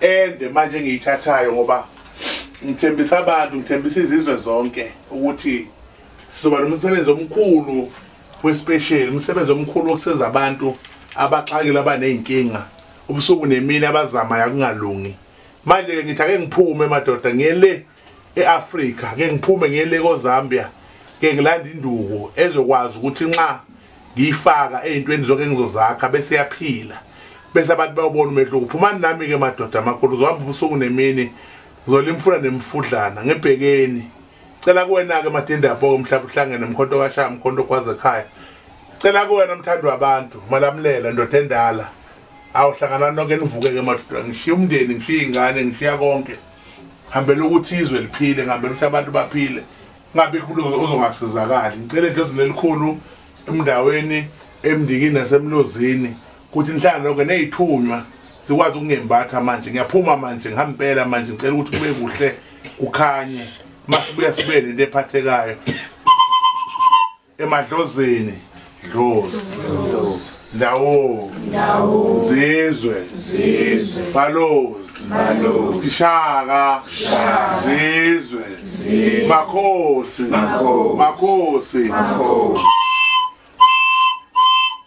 ende manje engiyithathayo ngoba ngithembisa abantu ngithembisa izizwe zonke ukuthi sizoba nomsebenzi omkhulu wespecial umsebenzi omkhulu wokusiza abantu abaxakile abaney'nkinga ubusuku nemini abazamayo akungalungi manje-ke ngithi ake ngiphume madoda ngiye le eAfrika ke ngiphume ngiyele koZambia ke ngilanda induku ezokwazi ukuthi nxa ngiyifaka ezintweni zonke engizozakha bese yaphila bese abantu bayobona umehluko uphumani nami ke madoda amakhulu uzohamba ubusuku nemini ngizolimfuna nemfudlana ngibhekeni cela kuwena ke madinda yabo ke mhlawumbe uhlangene mkhonto kashaya mkhonto kwaze ekhaya cela kuwena mthandi wabantu malamulela ndoda endala awuhlangana nonke nivuke ke madoda ngishiya umndeni ngishiya ingane ngishiya konke ngihambela ukuthi izwe liphile ngihambela ukuthi abantu baphile ngabe kulozo ozongasizakali ngicela edlozini elikhulu emndaweni emndikini nasemlozini ukuthi nihlala lonke neyithunywa sikwazi ukungembatha manje ngiyaphuma manje ngihamba impela manje ngicela ukuthi kube kuhle kukhanye masibuya sibe nento ephathekayo emadlozini dlozi ndawo ndawo zizwe zizwe balozi balozi ishaka shaka zizwe zizwe makhosi makhosi makhosi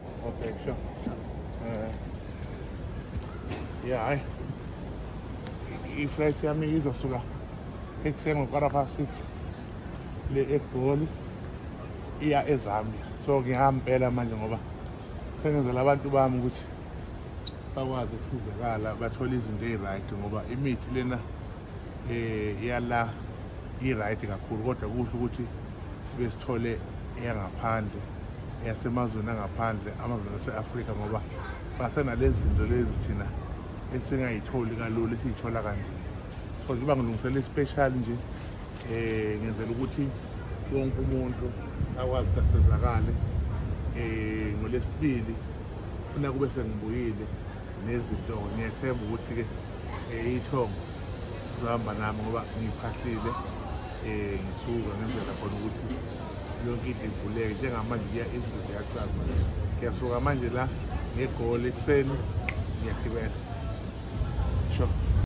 Okay, sure. Uh, yeah, I, iflight yami izosuka ekuseni ngokwara past six le egoli iya ezambia so ngiyampela manje ngoba sengenzela abantu bami ukuthi bakwazi ukusizakala bathole izinto eyi-right ngoba imithi lena eh yala i-right kakhulu kodwa kuhle ukuthi sibe sithole eyangaphandle eyasemazweni angaphandle amazweni ase-afrika ngoba basenalezi zinto lezi thina esingayitholi kalula esiyithola kanzima so ngiba ngilungisela i-special nje um ngenzela ukuthi wonke umuntu akwazi ukuthi asizakale um ngolesibili funa kube sengibuyile nezinto-ke ngiyethemba ukuthi-ke iy'thongo zohamba nami ngoba ngiphasile um ngisuka ngenzela khona ukuthi yonke into ivuleke njengamanje kuya indlu ziyacaba ngiyasuka manje la ngegoli ekuseni ngiyagibela sure